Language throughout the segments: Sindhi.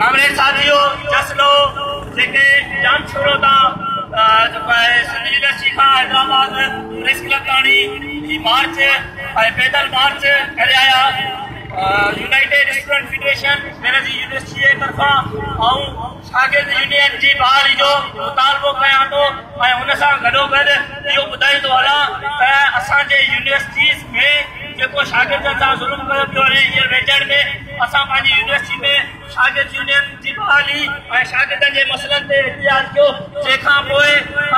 ڪامريڊ صاحب اهو جس لو جيڪي جام شورو تان جيڪو آهي سنڌ يونيورسٽي کان حيدرآباد پريس ڪلب تاڻي هي مارچ ۽ پيدل مارچ ڪري آيا United Student Federation Benazir University جي طرفان آئون شاگرد يونين جي بحالي جو مطالبو ڪيان ٿو ۽ ان سان گڏوگڏ اهو ٻڌائيندو هلان ته اسان جي يونيورسٽيز ۾ جيڪو شاگردن سان ظلم ڪيو پيو وڃي هينئر ويجهڙ ۾ اسان پنهنجي يونيورسٽي ۾ شاگرد يونين جي بحالي ۽ شاگردن جي مسئلن تي احتجاج ڪيو، جنهن کان پوء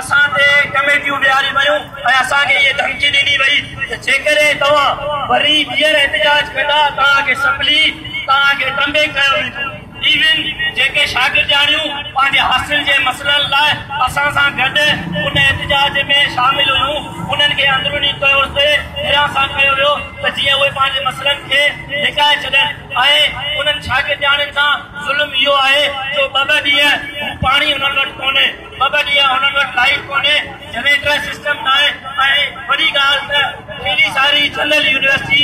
اسان تي ڪميٽيون ويهاريون ويون ۽ اسان کي اهي ڌمڪي ڏني وئي ته جيڪڏهن توهان وري ٻيهر احتجاج ڪندا توهان کي سپلي توهان کي ٽمبي ڪيو ويندو. ايون جيڪي شاگردياڻيون پنهنجي حاصل جي مسئلن لاء اسان سان گڏ ان احتجاج ۾ شامل هيون انهن کي اندروني طور تي پھريان سان ڪيو ويو. ته جيئن اهي پنهنجي مسئلن کي لڪائي ڇڏين ۽ انهن شاگردياڻين سان ظلم اهو آهي جو ٻه ٻه ڏينهن هو پاڻي انهن وٽ ڪونهي، ٻه ٻه ڏينهن انهن وٽ لائيٽ ڪونهي، جنريٽر سسٽم ناهي ۽ وڏي ڳالهه ته پهرين ساري جنرل يونيورسٽي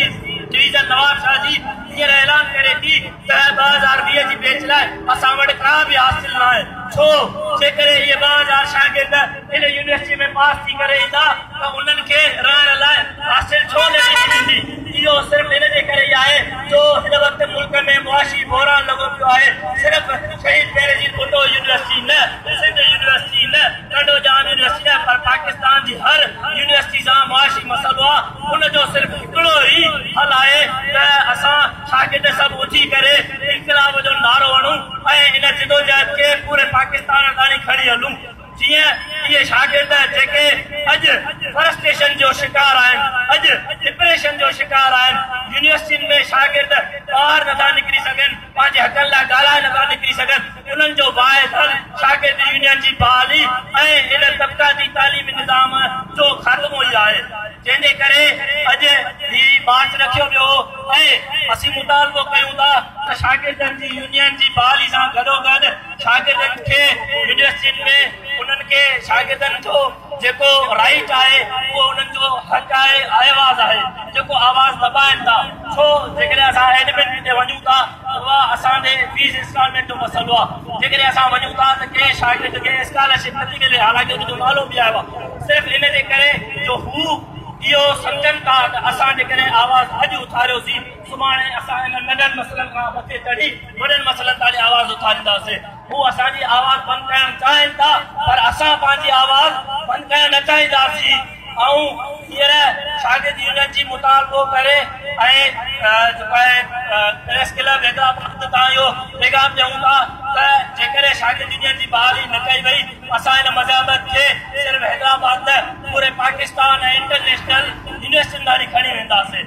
ڊويزن نوابشاهه جي هينئر اعلان ڪري ٿي ته ٻه هزار ويهه جي بيچ لاء اسان وٽ ڪا به هاسٽل ناهي ڇو جيڪڏهن اهي ٻه هزار شاگرد ان يونيورسٽيء ۾ پاس ٿي ڪري ايندا ته انهن کي رهڻ لاء هاسٽل ڇو نه ڏني ويندي؟ اهو صرف ان جي ڪري ئي آهي جو هن وقت ملڪ ۾ معاشي بحران لڳو پيو آهي. صرف شهيد بينظير ڀٽو يونيورسٽي نه، سنڌ يونيورسٽي نه، ٽنڊو ڄام يونيورسٽي نه پر پاڪستان جي هر يونيورسٽي سان معاشي مسئلو آهي. ان جو صرف هڪڙو ئي حل آهي ته اسان شاگرد سڀ اٿي ڪري انقلاب جو نعرو هڻون ۽ ان جدوجهد کي پوري پاڪستان تائين کڻي هلون. جيئن اهي شاگرد جيڪي اڄ فرسٽريشن جو شڪار آهن، اڄ ڊپريشن جو شڪار آهن، يونيورسٽين ۾ شاگرد ٻاهر نٿا نڪري سگهن، پنهنجي حقن لاء ڳالهائي نٿا نڪري سگهن، انهن جو باعث حل شاگرد يونين جي بحالي ۽ ان طبقاتي تعليمي نظام جو خاتمو ئي آهي، جنهن جي ڪري اڄ هي مارچ رکيو ويو هو ۽ اسين مطالبو ڪيون ٿا ته شاگردن جي يونين جي بحالي سان گڏوگڏ شاگردن کي يونيورسٽين ۾ انهن کي شاگردن جو جيڪو رائيٽ آهي اهو انهن جو حق آهي آئواز آهي جيڪو آواز دٻائن ٿا ڇو جيڪڏهن اسان ايڊمن ڪٿي وڃون ٿا اها اسان ڏي فيس انسٽالمينٽ جو مسئلو آهي جيڪڏهن اسان وڃون ٿا ته ڪنهن شاگرد کي اسڪالرشپ نٿي ملي حالانڪه ان جو نالو به آيو آهي صرف ان جي ڪري جو هو اهو سمجهن ٿا ته اسان جيڪڏهن آواز اڄ اٿاريوسين سڀاڻي اسان انهن ننڍن مسئلن کان مٿي چڙهي وڏن مسئلن تاڻي آواز اٿارينداسين. هو اسان جي آواز بند ڪرڻ چاهين ٿا پر اسان پنهنجي آواز بند ڪرڻ نه چاهينداسين. آئون هينئر شاگرد يونين جي مطالبو ڪري ۽ جيڪو آهي پريس ڪلب حيدرآباد تان اهو پيغام ڏيون ٿا ته جيڪڏهن شاگرد يونين جي بحالي نه ڪئي وئي اسان هن مزاحمت کي صرف حيدرآباد نه پوري پاڪستان ۽ انٽرنيشنل يونيورسٽين ڌاڻي کڻي وينداسين.